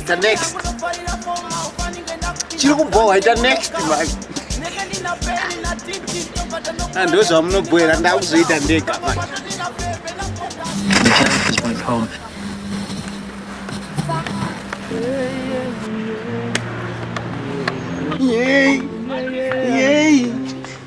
ita next chiri kubhohwa ita next manje ah, ndo zvamunobhoera ndakuzoita ndega manje Yay! Yay!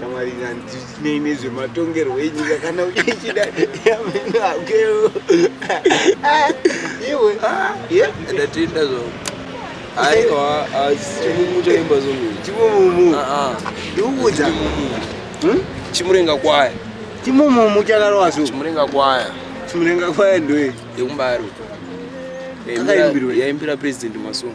shamwari handinei nezvematongerwo enyika kana uchichida yamenakeo iwe ndatenda zvo aiwa chimumu chaimba zvomu chimumumu ndiuudza chimurenga kwaya chimumumu chakarova zvo chimurenga kwaya chimurenga kwaya ndoye yekumbari yaimbira president masongo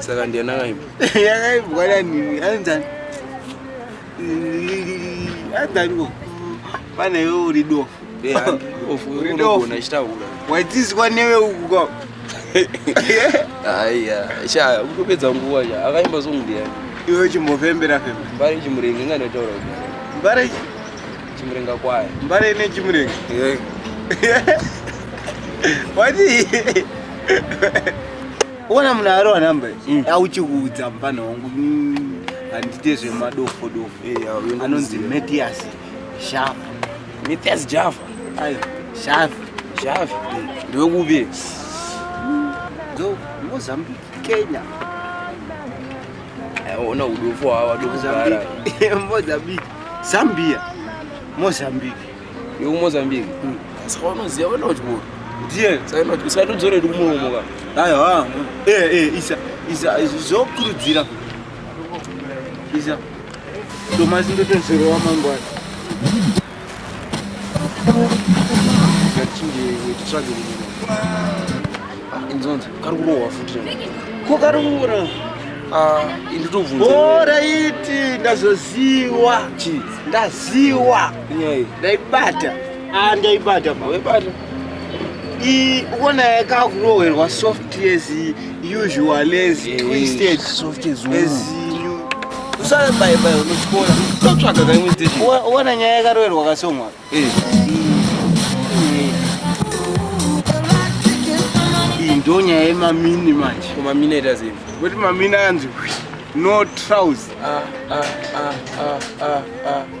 Saka ndiye nakaimba. Yakaimbwa nani? Anzani? Anzani? Pane wewe uri dofo. Eh, uri dofo. Unachitaura. Waitizwa newe uku kwa. Aiya, sha ukupedza nguwa ya. Akaimba song ndiye. Iwe chimbofembera fembera. Mbari chimurenga ngana taura. Mbari chimurenga kwaye. Mbari ine chimurenga. Eh. Wadi. Uona munhu ari wanamba mm. auchikuudza mupana wangu mm, handite zvemadofo dofo eh, anonzi Matias Shafa. Matias Java. Ayo, Shafa. Shafa. Mm. Ndiwe kupi? Ndo Mozambique, Kenya. Eh, ona udofo hawa dokugara. Mozambique. Zambia. Mozambique. yekumozambique hmm. saka vanoziva vana uchikuru ndiye satodzora yedu kumuromo ka aiwa eh, eh, isa isa zvokurudzira isa tomasi ndotozorowa mangwana inzonzi kari kurohwa futi ko kari kuura ah, inditobvunza oraiti ndazoziwa ndaziwa Nyei. Ndaibata. Ah ndaibata bro. Ndaibata. I ukona yakakurohwerwa soft as usual as twisted. Soft as usual usave bai bai unotyora totsvaga ka imwe station uona nyaya yakaroverwa kasongwa eh. iyi ndo nyaya yemamini manje komamini aita sei kuti mamini anzi no trouse ah, ah, ah, ah, ah, ah.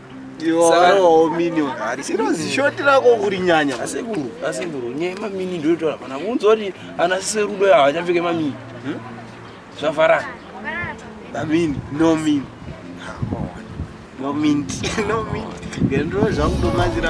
Iwowo mini ugari sirozi shoti rako kuri nyanya asekuru asekuru nyaya mamini ndoitaura pana kunzwa kuti ana serudo yavo achapfeke mamini hmm? zvafarana mamini no mini no mint no mint ngendiro zvakutomazira